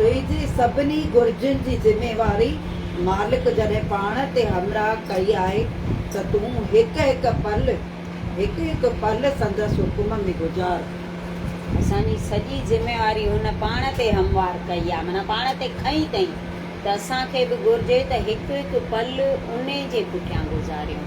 تنهنجي سڀني گهرجن جي ذميواري مالڪ جڏهن پاڻ تي همراهه ڪئي آهي ته تون هڪ هڪ پل هڪ هڪ پل سندس حڪم ۾ گذار. اسان جي سڄي ذميواري هن پاڻ تي هموار ڪئي آهي معنيٰ پاڻ تي کنئي تئين ته اسان کي به گهرجي ته هڪ هڪ پل انهي جي پٺيان گذاريون.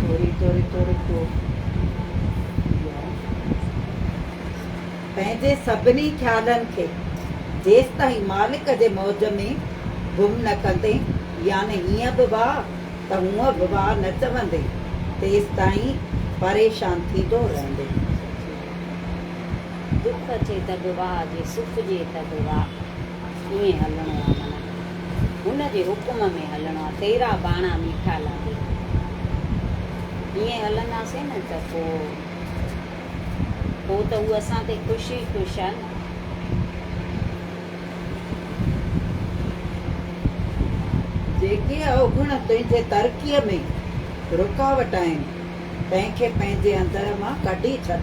ٿوري ٿوري ٿوري ڪو پنهنجي سڀني خيالن کي جيستائين مالڪ جي موج ۾ گم نه ڪندين يعني هيئن به واهه ته هونئن به واهه نه چوندين تيستائين پريشان ٿيندو رهندين. دک اچي ته به واهه جي سک ڏئي ته به واهه. ائين هلڻو آ من هن جي حڪم ۾ هلڻو آ تيرا باڻا ميٺا لاڳي ٿا ائين هلنداسين نه ته پو پو ته هو اسان تي خوش ئي خوش آ نه. جيڪي اوگڻ تنهنجي ترقيء ۾ رڪاوٽ آهن تنهن کي پنهنجي اندر مان ڪڍي ڇڏ.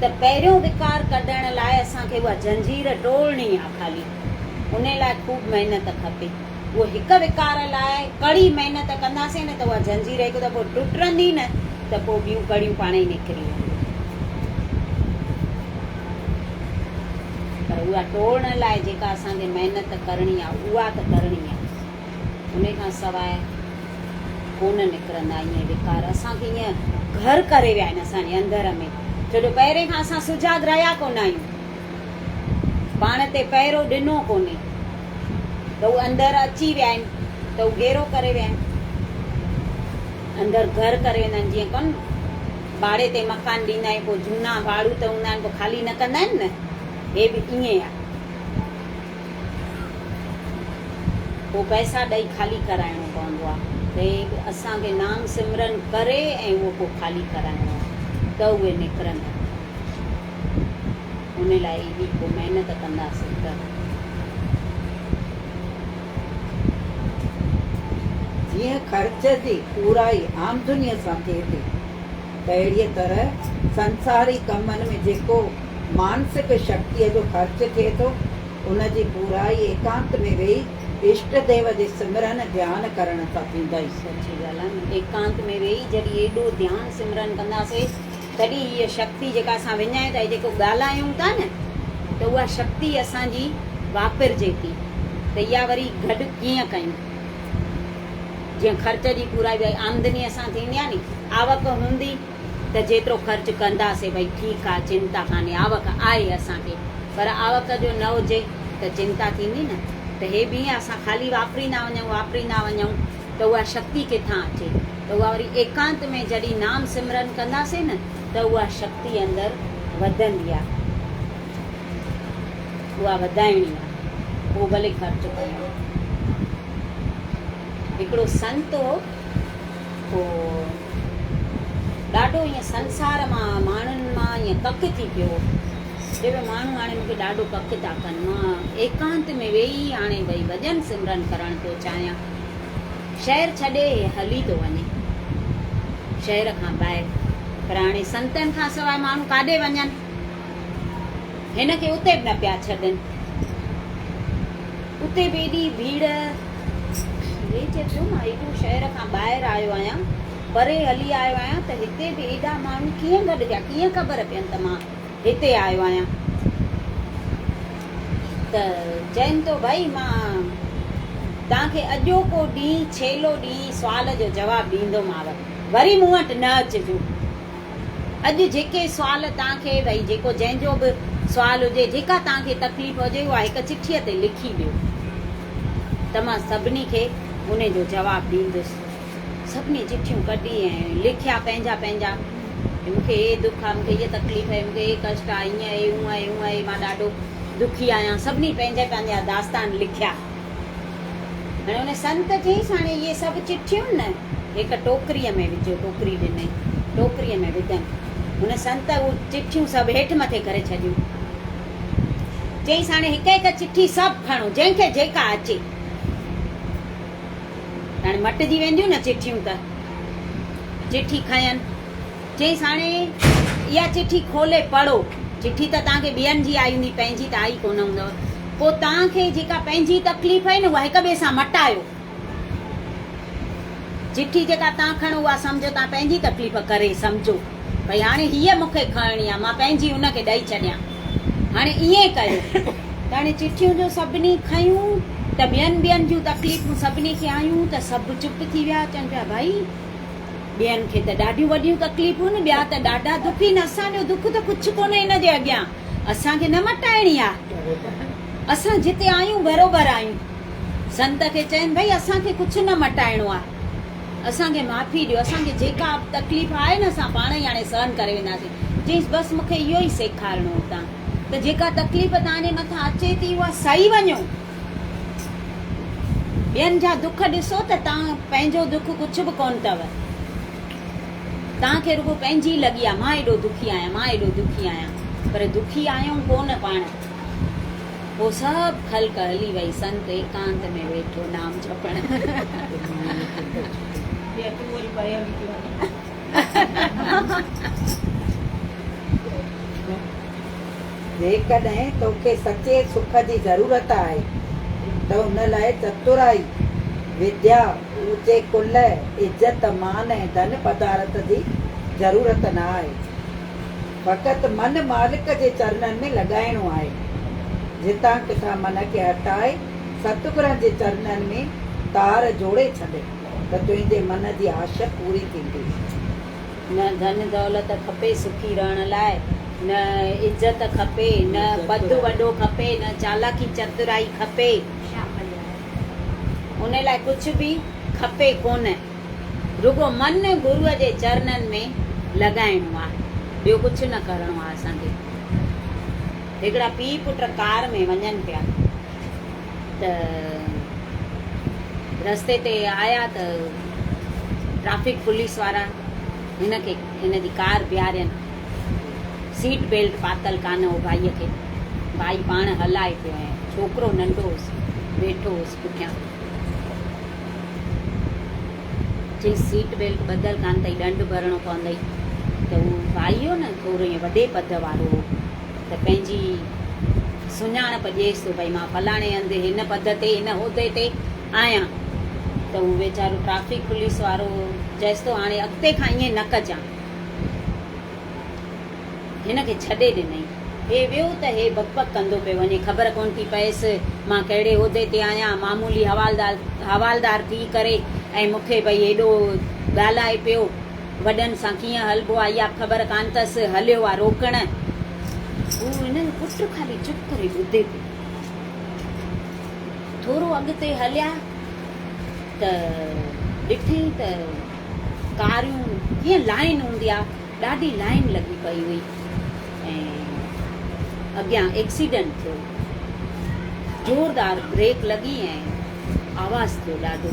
ته پهريون وقار ڪڍڻ لاء اسان کي اها زنجير ٽوڙڻي آ خالي ان لاء خوب محنت کپي اهو هڪ وقار لاء ڪڙي محنت ڪنداسين نه ته اها زنجير هڪ دفعو ٽٽرندي نه ته پوء ٻيون ڪڙيون پاڻ ئي نڪري وينديون پر اها ٽوڙڻ لاء جيڪا اسان کي محنت ڪرڻي آ اها ته ڪرڻي آ انهي کان سواء ڪونه نڪرندا اهي وڪار اسان کي ائين گهر ڪري ويا آهن اسان جي اندر ۾ ڇو جو پهرين کان اسان سجاڳ رهيا ڪونه آهيون پاڻ تي پهرو ڏنو ڪونهي ته اهي اندر اچي ويا آهن ته اهي گهيرو ڪري ويا آهن اندر گهر ڪري ويندا آهن جيئن ڪن ڀاڙي تي مڪان ڏيندا آهيون پوء جهونا ڀاڙو ته هوندا آهن پوء خالي نه ڪندا آهن نه هي به ائين آهي پوء پئسا ڏئي خالي ڪرائڻو پوندو آ تي به اسان کي نام سمرن ڪري ۽ اهو پوء خالي ڪرائڻو آ ته اهي نڪرندا ان لاء ايڏي پوء محنت ڪنداسين ته جيئن خرچ جي پورائي آمدنيء سان ٿئي ٿي. اهڙيء طرح سنساري ڪمن ۾ جيڪو مانسڪ شڪتيء جو خرچ ٿئي ٿو، ان جي پورائي ايڪانت ۾ ويهي اشٽ ديو جي سمرن، ڌيان، ڪرڻ سان ٿيندئي. سچي ڳالهه آهي نه، ايڪانت ۾ ويهي جڏهن ايڏو ڌيان، سمرن، ڪنداسين، تڏهن هيء شڪتي جيڪا اسان وڃائي ٿا، جيڪو ڳالهايون ٿا نه، ته اها شڪتي اسان جي واپرجي ٿي، ته اها وري گڏ ڪيئن ڪيون؟ جيئن خرچ جي پورائي ڀئي آمدنيء سان ٿيندي آهي ني. آوڪ هوندي ته جيترو خرچ ڪنداسين ڀئي ٺيڪ آهي چنتا ڪانهي آوڪ آهي اسان کي پر آوڪ جو نه هجي ته چنتا ٿيندي نه ته هي ڀينء اسان خالي واپريندا وڃون واپريندا وڃون ته اها شڪتي ڪٿان اچي ته اها وري ايڪانت ۾ جڏهين نام سمرن ڪنداسين نه ته اها شڪتي اندر وڌندي آهي. اها وڌائڻي آ هو ڀلي خرچ ڪن. هڪڙو سنت هو سو ڏاڍو ائين سنسار مان ماڻهن مان ائين ڪڪ ٿي پيو هو چي ڀي ماڻهو هاڻي مون کي ڏاڍو ڪڪ ٿا ڪن مان ايڪانت ۾ ويهي هاڻي ڀئي ڀڄن سمرن ڪرڻ ٿو چاهيان شهر ڇڏي هي هلي ٿو وڃي شهر کان ٻاهر پر هاڻي سنتن کان سواء ماڻهو ڪاڏي وڃن. هن کي اتي به نه پيا ڇڏن. اتي به ايڏي ڀيڙ. هي چئي پيو مان ايڏو شهر کان ٻاهر آيو آهيان، پري هلي آيو آهيان ته هتي به ايڏا ماڻهو ڪيئن گڏجا، ڪيئن خبر پين ته مان هتي آيو آهيان. ته چئن ٿو ڀائي مان توهان کي اڄوڪو ڏينهن ڇيلو ڏينهن سوال جو جواب ڏيندوماو، وري مون وٽ نه اچجو. اڄ جيڪي سوال توهان کي ڀئي جيڪو جنهن جو به سوال هجي جيڪا توهان کي تڪليف هجي اها هڪ چٺيء تي لکي ڏيو ته مان سڀني کي ان جو جواب ڏيندس. سڀني چٺيون ڪڍي ۽ لکيا پنهنجا پنهنجا ته مون کي هي دک آهي مون کي هيء تڪليف آهي مون کي هي ڪشٽ آهي هيئن آهي هونء آهي هونء آهي مان ڏاڍو دکي آهيان سڀني پنهنجا پنهنجا داستان لکيا. ان سنت چيس، هاڻي اهي سڀ چٺيون نه هڪ ٽوڪريء ۾ وجهو. ٽوڪري ڏنائين. ٽوڪريء ۾ وڌن. هن سنت اهي چٺيون سڀ هيٺ مٿي ڪري ڇڏيون. چيس، هاڻي هڪ هڪ چٺي سڀ کڻو، جنهن کي جيڪا اچي. هاڻي مٽجي وينديون نه چٺيون ته. چٺي کنين. چيس هاڻي اها چٺي کولي پڙهو. چٺي ته توهان کي ٻين جي آئي هوندي پنهنجي ته آئي ڪونه هوندو. پوء توهان کي جيڪا پنهنجي تڪليف آهي نه اها هڪ ٻئي سان مٽايو. چٺي جيڪا توهان کڻو اها سمجهو توهان پنهنجي تڪليف ڪري سمجهو ڀئي هاڻي هيء مون کي کڻڻي آهي مان پنهنجي ان کي ڏئي ڇڏيان. هاڻي ائين ڪيو ته هاڻي چٺيون جو سڀني کنيون ته ٻين ٻين جون تڪليفون سڀني کي آيون ته سڀ چپ ٿي ويا چون پيا ڀئي ٻين کي ته ڏاڍيون وڏيون تڪليفون ۽ ٻيا ته ڏاڍا دک ھن اسان جو دک ته ڪڇ ڪونھي ان جي اڳيان اسان کي نه مٽائڻي آ اسان جتي آھيون بروبر آھيون سنت کي چين ڀئي اسان کي ڪڇ نه مٽائڻو آ اسان کي معافي ڏيو اسان کي جيڪا به تڪليف آھي نه اسان پاڻ ئي ھاڻي سھن ڪري وينداسين چيس بس مون کي اھو ئي سيکارڻو ھو تان ته جيڪا تڪليف تان جي مٿان اچي ٿي اھا سھي وڃو ٻين جا دک ڏسو ته توهان پنهنجو دک ڪجهه به ڪونه اٿو. توهان کي رڳو پنهنجي لڳي آهي مان ايڏو دکي آهيان مان ايڏو دکي آهيان پر دکي آهيون ڪونه پاڻ. پوء سڀ خلق هلي وئي سنت ايڪانت ۾ ويٺو نام جپڻ. جيڪڏهن توکي سچي سک جي ضرورت آهي ته ان لاء چترائي، وديا، اوچي ڪل، عزت، مان ۽ ڌن پدارٿ جي ضرورت نه آهي. فقط من مالڪ جي چرنن ۾ لڳائڻو آهي. جتان ڪٿان من کي هٽائي ستگرن جي چرنن ۾ تار جوڙي ڇڏ. ته تنهنجي من جي آش پوري ٿيندي. نه ڌن دولت کپي سکي رهڻ لاء، نه عزت کپي، نه پد وڏو کپي، نه چالاڪي چترائي کپي، ان لاء ڪجهه به کپي ڪونه، رڳو من گروء جي چرنن ۾ لڳائڻو آ، ٻيو ڪجهه نه ڪرڻو آ اسان کي. هڪڙا پيء پٽ ڪار ۾ وڃن پيا. ته رستي تي آيا ته ٽريفڪ پوليس وارا هن کي هن جي ڪار بيهارين. سيٽ بيلٽ پاتل ڪانه هو ڀائيء کي. ڀائي پاڻ هلائي پيو ۽ ڇوڪرو ننڍو هوس، ويٺو هوس پٺيان. چيس سيٽ بيلٽ ٻڌل ڪانه اٿئي، ڏنڊ ڀرڻو پوندئي. ته هو ڀائي هو نه ٿورو ائين وڏي پد وارو هو. ته پنهنجي سڃاڻپ ڏيس ته ڀئي مان فلاڻي هنڌ هن پد تي هن عهدي تي آهيان ته هو ويچارو ٽرئفڪ پوليس وارو چيس ٿو هاڻي اڳتي کان ائين نه ڪجان هن کي ڇڏي ڏنئي هي ويو ته هي بڪ بڪ ڪندو پيو وڃي خبر ڪونه ٿي پئيس مان ڪهڙي عهدي تي آهيان معمولي حوالدار حوالدار ٿي ڪري ۽ مون کي ڀئي هيڏو ڳالهائي پيو وڏن سان ڪيئن هلبو آ، اها خبر ڪانه تس، هليو آ روڪڻ. هو هن جو پٽ خالي چپ ڪري ٻڌي پيو. ٿورو اڳتي هليا ته ڏٺئين ته ڪاريون جيئن لائين هوندي آ، ڏاڍي لائين لڳي پئي هئي ۽ اڳيان ايڪسيڊنٽ ٿيو. زوردار بريڪ لڳي ۽ آواز ٿيو ڏاڍو.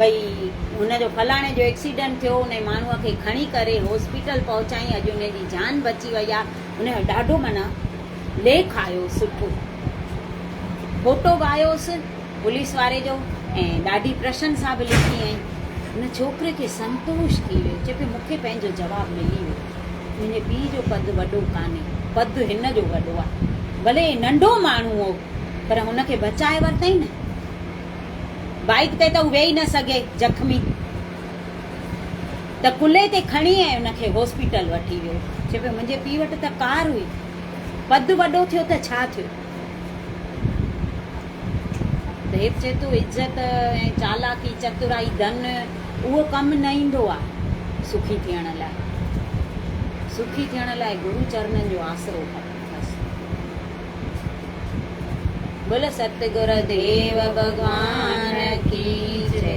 ڀئي هن جو فلاڻي جو ايڪسيڊنٽ ٿيو انهي ماڻهو کي کڻي ڪري هاسپيٽل پهچائين اڄ انهي جي جان بچي وئي آ انهي جو ڏاڍو معنيٰ ليک آيو سٺو فوٽو به آيوس پوليس واري جو ۽ ڏاڍي پرشنسا به لکي ۽ ان ڇوڪري کي سنتوش ٿي ويو چي پيو مونکي پنهنجو جواب ملي ويو منهنجي پيء جو قد وڏو ڪانهي قد هن جو وڏو آ ڀلي ننڍو ماڻهو هو پر هن کي بچائي ورتائين نه بائيڪ تي ته هو ويهي نه سگهي، زخمي ته ڪلهي تي کڻي ۽ ان کي هاسپيٽل وٺي ويو. چئي پيو منهنجي پيء وٽ ته ڪار هئي، پد وڏو ٿيو ته ڇا ٿيو؟ ديب چئي ٿو عزت ۽ چالاڪي، چترائي، ڌن اهو ڪم نه ايندو آ سکي ٿيڻ لاء. سکي ٿيڻ لاء گرو چرنن جو آسرو کپي. بس. بول ستگر ديو ڀڳوان ڪي جي